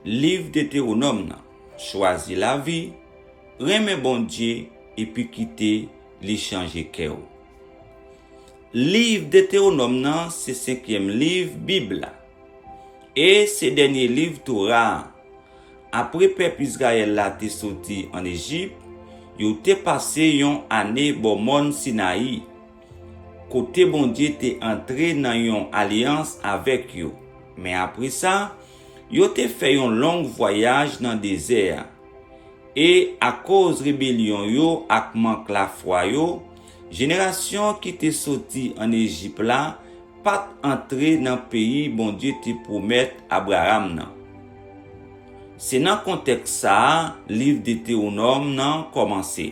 Liv Detewonòm nan Chwazi lavi, renmen Bondye, epi kite li chanje kè ou Liv Detewonòm nan se senkyèm liv Bib la e se dènye liv Tora a. Apre pèp Izrayèl la te soti ann Ejip, yo te pase yon ane bò Mòn Sinayi. kote Bondye te antre nan yon alyans avèk yo. Men apre sa, yo te fè yon long vwayaj nan dezè a. E, akoz rebelyon yo ak mank lafwa yo, jenerasyon ki te soti ann Ejip la pa t antre nan peyi Bondye te pwomèt Abraram nan. Se nan kontèks sa a liv Detewonòm nan kòmanse.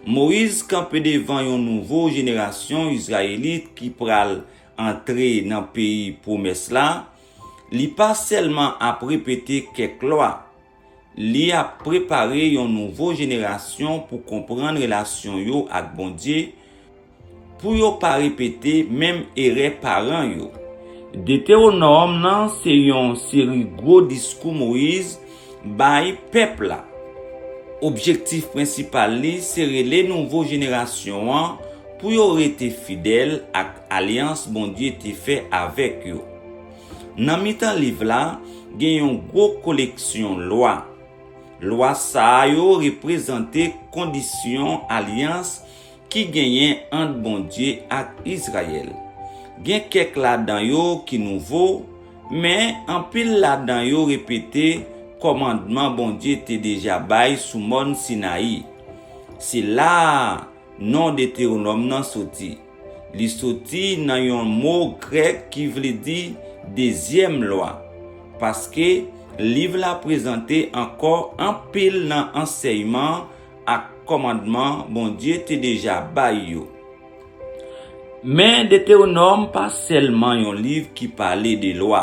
Moyiz kanpe devan yon nouvo jenerasyon Izrayelit ki pral antre nan Peyi pwomès la, li pa sèlman ap repete kèk lwa. Li ap prepare yon nouvo jenerasyon pou konprann relasyon yo ak Bondye, Pou yo pa repete menm erè paran yo. Detewonòm nan se yon seri gwo diskou Moyiz bay pèp la. Objektif prensipal li se rele nouvo jenerasyon an pou yo rete fidèl ak alyans Bondye te fè avèk yo. Nan mitan liv la, gen yon gwo koleksyon lwa. Lwa sa yo reprezante kondisyon alyans Ki genyen ant Bondye ak Izrayèl. Gen kèk ladan yo ki nouvo, men, anpil ladan yo repete kòmandman Bondye te deja bay sou Mòn Sinayi. Se la a non Detewonòm nan soti. Li soti nan yon mo grèk ki vle di Dezyèm Lwa, paske liv la prezante ankò anpil nan ansèyman ak kòmandman Bondye te deja bay yo. Men, Detewonòm pa sèlman yon liv ki pale de lwa.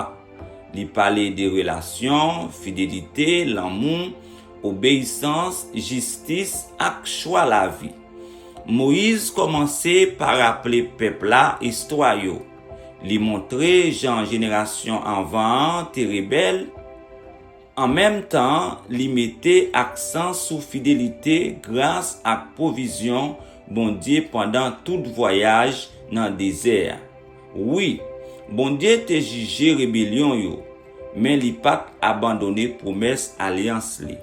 Li pale de relasyon, fidelite, lanmou, obeyisans, jistis, ak chwa lavi. Moyiz kòmanse pa raple pèp la istwa yo. Li montre jan jenerasyon anvan an te rebèl, An menm tan, li mete aksan sou fidelite, gras ak pwovizyon Bondye pandan tout vwayaj nan dezè a. Wi, Bondye te jije rebelyon yo, men li pa t abandone pwomès alyans li.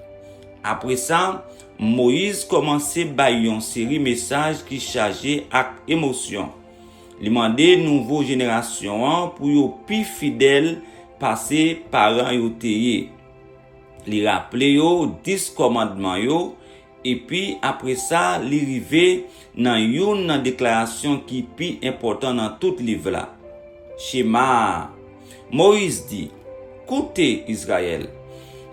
Apre sa, Moyiz kòmanse bay yon seri mesaj ki chaje ak emosyon. Li mande nouvo jenerasyon an pou yo pi fidèl pase paran yo te ye. Li raple yo Dis Kòmandman yo, epi apresa li rive nan youn nan deklarasyon ki pi enpòtan nan tout liv la, Chema a. Moyiz di, Koute, Izrayèl!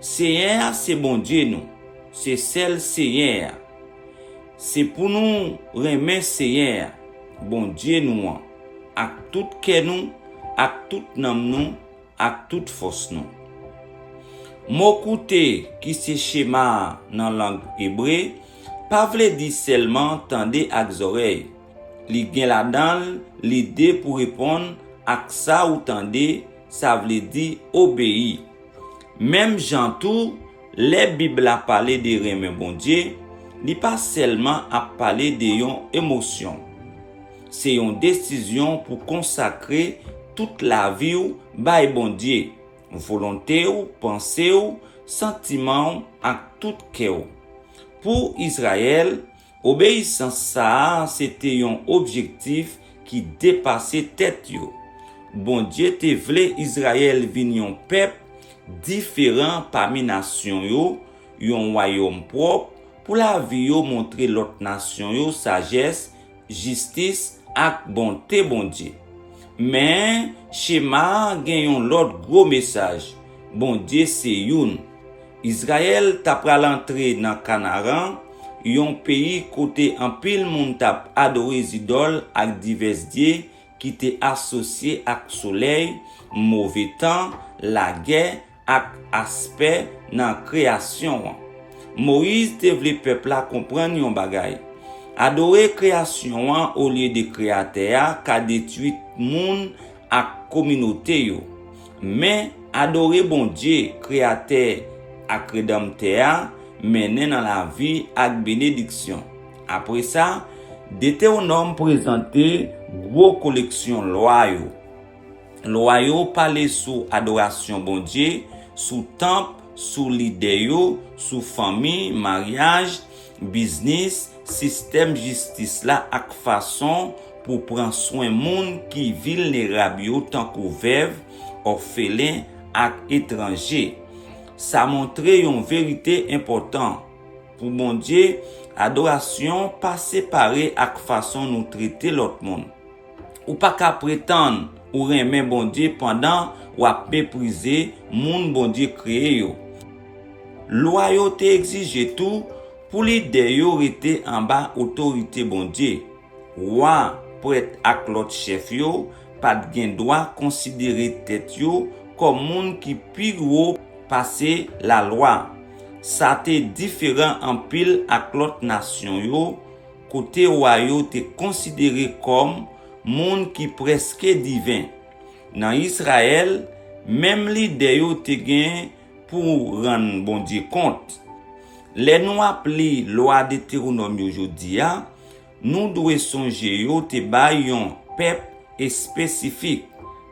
Senyè a se Bondye nou, se sèl Senyè a. Se pou nou renmen Senyè a, Bondye nou an, ak tout kè nou, ak tout nanm nou, ak tout fòs nou. Mo koute, ki se shema nan lang ebre, pa vle di sèlman tande ak zòrèy. Li gen ladan l lide pou reponn ak sa ou tande, sa vle di obeyi. Menm jan tou, Lè Bib la pale de renmen Bondye, li pa sèlman ap pale de yon emosyon. Se yon desizyon pou konsakre tout lavi w bay Bondye, volonte w, panse w, santiman w ak tout kè w. Pou Izrayèl, Obeyisans sa a se te yon objektif ki depase tèt yo. Bondye te vle Izrayèl vin yon pèp diferan pami nasyon yo, yon wayòm pwòp, pou lavi yo montre lòt nasyon yo sajès, jistis, ak bonte Bondye. Men, chema a gen yon lòt gwo mesaj, Bondye se youn. Izrayèl t apral antre nan Kanaran, yon peyi kote anpil moun t ap adore zidòl ak divès dye ki te asosye ak solèy, move tan, lagè, ak aspè nan kreyasyon an. Moyiz te vle pèp la konprann yon bagay, Adore kreyasyon an olye de Kreyatè a ka detwi moun ak kominote yo. Men, adore Bondye, Kreyatè ak Redanmtè a, mennen nan lavi ak benediksyon. Apre sa, Detewonòm prezante gwo koleksyon lwa yo. Lwa yo pale sou adorasyon Bondye, sou tanp, sou lide yo, sou fanmi, maryaj, Biznis, sistèm jistis la ak fason pou pran swen moun ki vilnerab yo tankou vèv, òfelen ak etranje. Sa montre yon verite enpòtan, Pou Bondye, adorasyon pa separe ak fason nou trete lòt moun. Ou pa ka pretann ou renmen Bondye pandan w ap meprize moun Bondye kreye yo. Lwa yo te egzije tou pou lidè yo rete anba otorite Bondye. Wa, prèt ak lòt chèf yo pa t gen dwa konsidere tèt yo kòm moun ki pi wo pase lalwa. Sa te diferan anpil ak lòt nasyon yo, kote wa yo te konsidere kòm moun ki prèske diven. Nan Izrayèl, menm lidè yo te gen pou rann Bondye kont. Lè nou ap li Lwa Detewonòm yo jodi a, nou dwe sonje yo te bay yon pèp espesifik,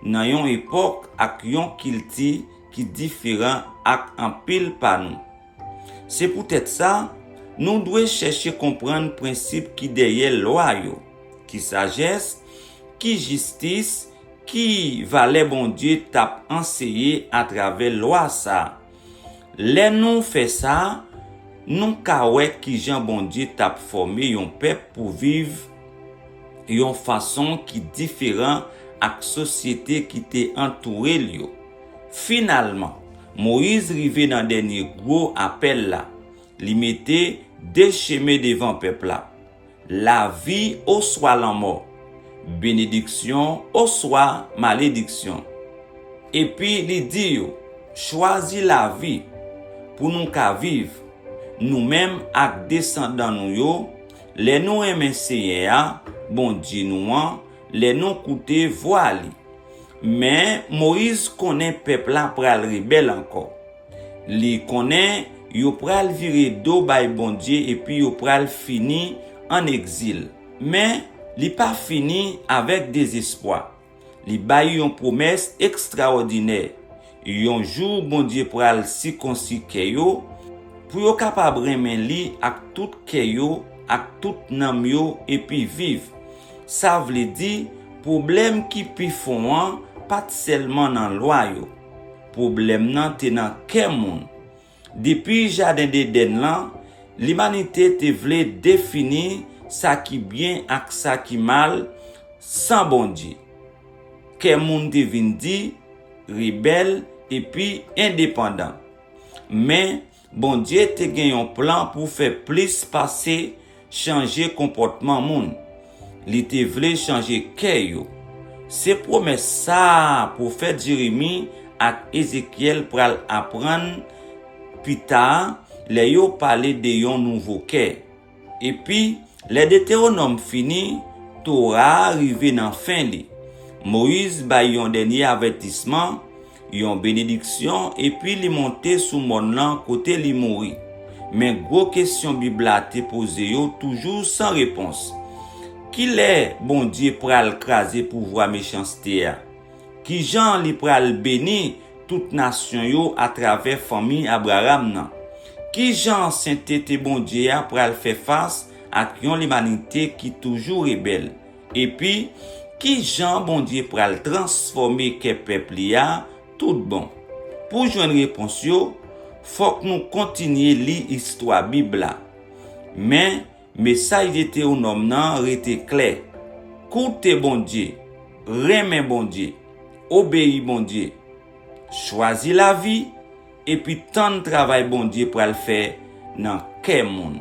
nan yon epòk ak yon kilti ki diferan ak anpil pa nou. Se poutèt sa, nou dwe chèche konprann prensip ki dèyè lwa yo, ki sajès, ki jistis, ki valè Bondye t ap anseye atravè lwa sa a. Lè nou fè sa, nou ka wè ki jan Bondye t ap fòme yon pèp pou viv yon fason ki diferan ak sosyete ki te antoure l yo. Finalman, Moyiz rive nan dènye gwo apèl la. Li mete de chemen devan pèp la, lavi oswa lanmò, benediksyon oswa malediksyon. Epi li di yo, Chwazi lavi, pou nou ka viv, nou menm ak desandan nou yo, lè nou renmen Senyè a, Bondye nou an, Lè nou koute vwa li. Men, Moyiz konnen pèp la pral rebèl ankò. Li konnen yo pral vire do bay Bondye epi yo pral fini ann egzil. Men, li pa fini avèk dezespwa. Li bay yon pwomès ekstraòdinè, Yon jou Bondye pral sikonsi kè yo, pou yo kapab renmen li ak tout kè yo, ak tout nanm yo epi viv. Sa vle di, pwoblèm ki pi fon an pa t sèlman nan lwa yo. Pwoblèm nan te nan kè moun. Depi jaden Dedèn lan, limanite te vle defini sa ki byen ak sa ki mal san Bondye. Kè moun te vin di, rebèl, epi endepandan. Men, Bondye te gen yon plan pou fè plis pase chanje konpòtman moun. Li te vle chanje kè yo. Se pwomès sa a pwofèt Jeremi ak Ezekyèl pral aprann pita lè yo pale de yon nouvo kè. Epi, lè Detewonòm fini, Tora a rive nan fen li. Moyiz bay yon dènye avètisman, Yon benediksyon epi li monte sou mòn lan kote li mouri. Men gwo kesyon Bib la te poze yo toujou san repons, Kilè Bondye pral kraze pouvwa mechanste a? Kijan li pral beni tout nasyon yo atravè fanmi Abraram nan? Kijan sentete Bondye a pral fè fas ak yon limanite ki toujou rebèl? Epi, ki jan Bondye pral transfòme kè pèp li a toutbon? Pou jwenn repons yo, fòk nou kontinye li istwa Bib la. Men, mesaj Detewonòm nan rete klè, Koute Bondye, renmen Bondye, obeyi Bondye. Chwazi lavi. Epi tann travay Bondye pral fè nan kè moun.